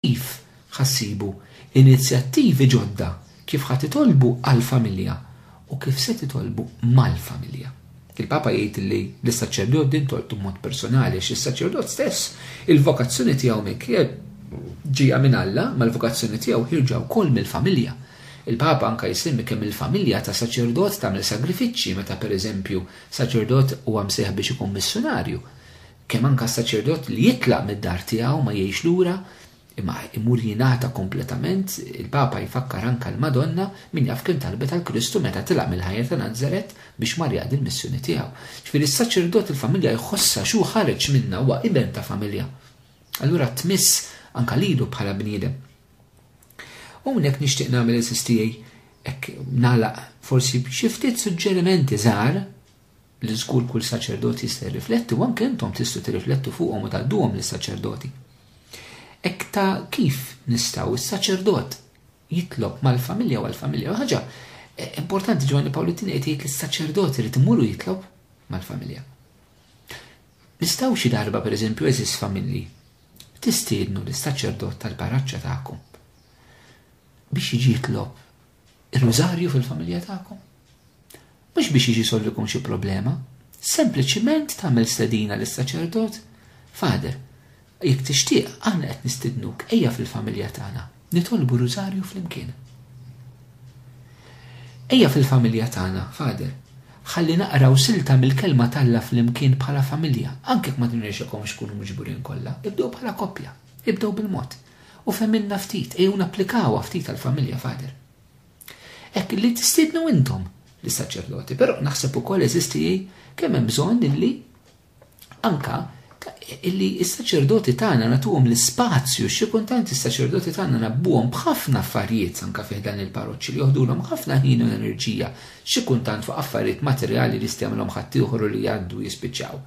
Kif ħa ssibu inizjattivi ġodda, kif ħa titolbu għall-familja u kif se titolbu mal-familja? Il-Papa jgħid li lis-saċerdot din tolqtu b'mod personali għax is-saċerdot stess, il-vokazzjoni tiegħu minkejja ġejja minn Alla, imma l-vokazzjoni tiegħu ħierġa wkoll mill-familja. Il-Papa anke jsemmi kemm il-familja ta' saċerdot tagħmel sagrifiċċji meta pereżempju saċerdot huwa msejħ biex ikun missjunarju. Kemm anke s-saċerdot li jitlaq mid-dar tiegħu ma jgħix lura, imma imur jingħata kompletament, il-Papa jfakkar anke l-Madonna, min jaf kemm talbet għal Kristu meta tilaq mill-ħajja ta' Nazaret biex mar jaqdi l-missjoni tiegħu. Ġifieri s-saċerdot il-familja jħossha xi hu ħareġ minnha, huwa iben ta' familja. Allura tmiss anke lilu bħala bniedem. U minn hekk nixtieq nagħmel eżiż tiegħi hekk nagħlaq forsi b'xi ftit suġġerimenti żgħar li żgur kull saċerdot jista' jirrifletti u anke intom tistgħu tirriflettu fuqhom u tgħadduhom lis-saċerdoti. Hekk ta' kif nistgħu s-saċerdot jitlob mal-familja u għall-familja. Ħaġa eh, importanti Ġwanni Pawlu t qed jgħid li s-saċerdot irid imur u jitlob mal-familja. Nistaw xi darba pereżempju eżis familji tistiednu lis saċerdot tal-paraċċa tagħkom biex jiġi jitlob ir-rużarju fil-familja tagħkom. Mhux biex jiġi solvikum xi problema, sempliċiment tagħmel stedina lis-saċerdot, Father, jekk tixtieq aħna qed nistidnuk ejja fil-familja tagħna, nitolbu rużarju flimkien. Ejja fil-familja tagħna, Father, ħalli naqraw silta mill-kelma t'Alla flimkien bħala familja, anke jekk ma tinrexekomx tkunu miġburin kollha, ibdew bħala koppja, ibdew bil-mod. U femilna ftit, ejjew napplikawha ftit għall-familja, Father. Hekk li tistiednu intom lis-saċerdoti, però naħseb ukoll eżisti kemm hemm bżonn illi anka illi s-saċerdoti tagħna nagħtuhom l-ispazju, xi kultant is-saċerdoti tagħna nabbuhom b'ħafna affarijiet anka fih dan il-parroċċi li joħdulhom ħafna ħin u enerġija, xi kultant fuq affarijiet materjali li stemlhom ħaddieħor u li jgħaddu jispiċċaw.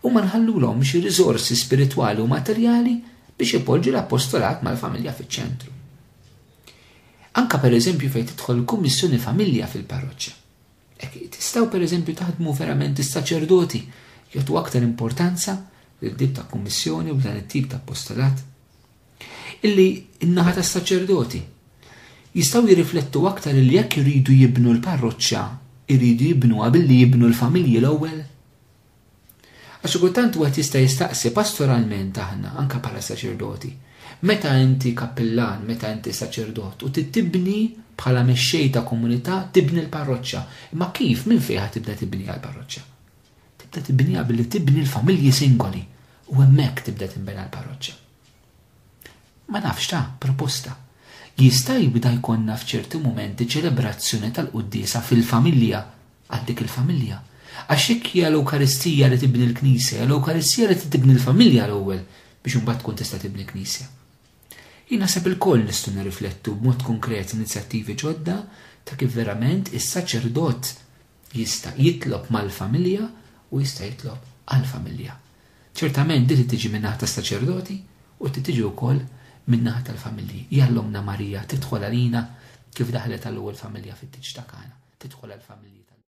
U ma nħallulhom xi riżorsi spiritwali u materjali biex ipoġġu l-appostolat mal-familja fiċ-ċentru. Anke pereżempju fejn tidħol il-Kummissjoni Familja fil-parroċċa. Hekk tistgħu pereżempju taħdmu verament is-saċerdoti jagħtu aktar importanza lil tip ta' kummissjoni u dan it-tip ta' appostolat. Illi n-naħa tas-saċerdoti jistgħu jirriflettu aktar li jekk iridu jibnu l-parroċċa, iridu jibnuha billi jibnu l-familji l-ewwel. Għax xi kultant wieħed jista' jistaqsi, pastoralment aħna, anke bħala saċerdoti, meta inti kappillan, meta inti saċerdot u trid tibni bħala mexxej ta' komunità tibni l-parroċċa, imma kif, minn fejn ħa tibda tibniha l-parroċċa? Tibda tibniha billi tibni l-familji singoli u hemmhekk tibda tinbena l-parroċċa. Ma nafx ta, proposta. Jista' jibda jkollna f'ċerti mumenti ċelebrazzjoni tal-quddiesa fil-familja, għal dik il-familja. Għax jekk hija l-Ewkaristija li tibni l-Knisja, hija l-Ewkaristija li trid tibni l-familja l-ewwel biex imbagħad tkun tista' tibni Knisja. Jien naħseb ilkoll nistgħu nirriflettu b'mod konkret inizjattivi ġodda ta' kif verament is-saċerdot Jista' jitlob mal-familja u jista' jitlob għall-familja. Ċertament din trid tiġi min-naħa tas-saċerdoti u trid tiġi wkoll min-naħa tal-familji. Jalla Ommna Marija tidħol għalina kif daħlet għall-ewwel familja fit-tieġ ta' Kana, tidħol għall-familji tal-lum.